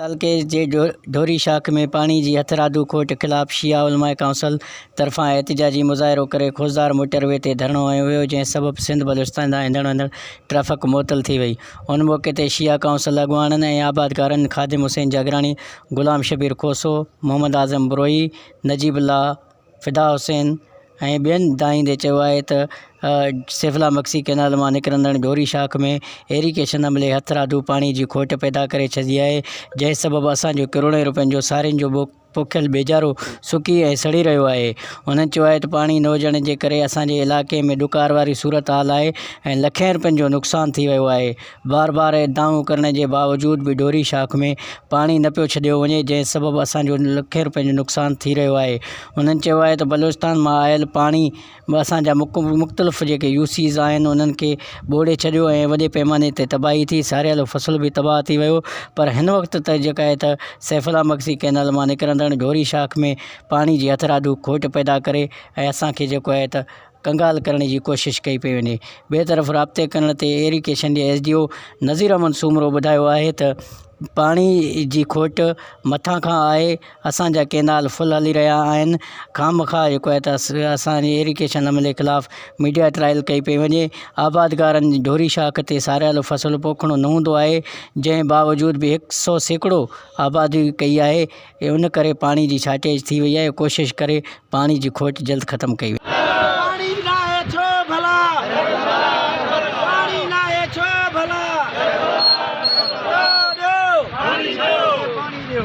تعلقي جي ڍوري شاخ ۾ پاڻي جي هٿرادو کوٽ خلاف شيعا علماء ڪائونسل طرفان احتجاجي مظاهرو ڪري خوزدار موٽر وي تي ڌرڻو هنيو ويو جنهن سبب سنڌ بلوچستان ڏانهن ايندڙ ويندڙ ٽرئفڪ معطل ٿي وئي ان موقعي تي شيعا ڪائونسل اڳواڻن ۽ آبادگارن خادم حسين جاگراڻي غلام شبير کوسو محمد اعظم بروهي نجيب الله فدا حسين ۽ ٻين دانهيندي چيو آهي ته سيفلا مگسي ڪئنال مان نڪرندڙ ڍوري شاخ ۾ ايريگيشن عملي هٿرادو پاڻي جي کوٽ پيدا ڪري ڇڏي آهي جنهن سبب اسان جو ڪروڙين رپين جو سارين جو پوکيل ٻيجارو سڪي ۽ سڙي رهيو آهي هنن چيو آهي ته پاڻي نه هجڻ جي ڪري اسان جي علائقي ۾ ڏڪار واري صورتحال آهي ۽ لکين رپين جو نقصان ٿي ويو آهي بار بار ادعائون ڪرڻ جي باوجود به ڍوري شاخ ۾ پاڻي نه پيو ڇڏيو وڃي جنهن سبب اسان جو لکين روپين جو نقصان ٿي رهيو آهي هنن چيو آهي ته بلوچستان مان آيل پاڻي به اسان جا مختلف جيڪي يو سيز آهن انهن کي ٻوڙي ڇڏيو ۽ وڏي پئماني تي تباهي ٿي ساريل فصل به تباهه ٿي ويو پر هن وقت ته جيڪا آهي ته سيف الله مگسي ڪئنال مان نڪرندڙ ڍوري شاخ ۾ پاڻي جي هٿرادو کوٽ پيدا ڪري ۽ اسان کي جيڪو آهي ته ڪنگال ڪرڻ جي ڪوشش ڪئي پئي وڃي. ٻئي طرف رابطي ڪرڻ تي ايريڪيشن جي S D O Nazir Ahmed Soomro ٻڌايو آهي ته پاڻي جي کوٽ مٿان کان آهي، اسان جا ڪينال فل هلي رهيا آهن، خامخواه جيڪو آهي ته اسان جي ايريڪيشن عملي خلاف ميڊيا ٽرائل ڪئي پئي وڃي، آبادگارن ڍوري شاخ تي ساريل فصل پوکڻو نه هوندو آهي، جنهن باوجود به هڪ سئو سيڪڙو آبادي ڪئي آهي، اي ان ڪري پاڻي جي شارٽيج ٿي وئي آهي ڪوشش ڪري پاڻي جي کوٽ جلد ختم ڪئي وڃي. پاڻي ناهي ڇو ڀلا. پاڻي ناهي ڇو ڀلا. ڏيو ڏيو. پاڻي ڏيو.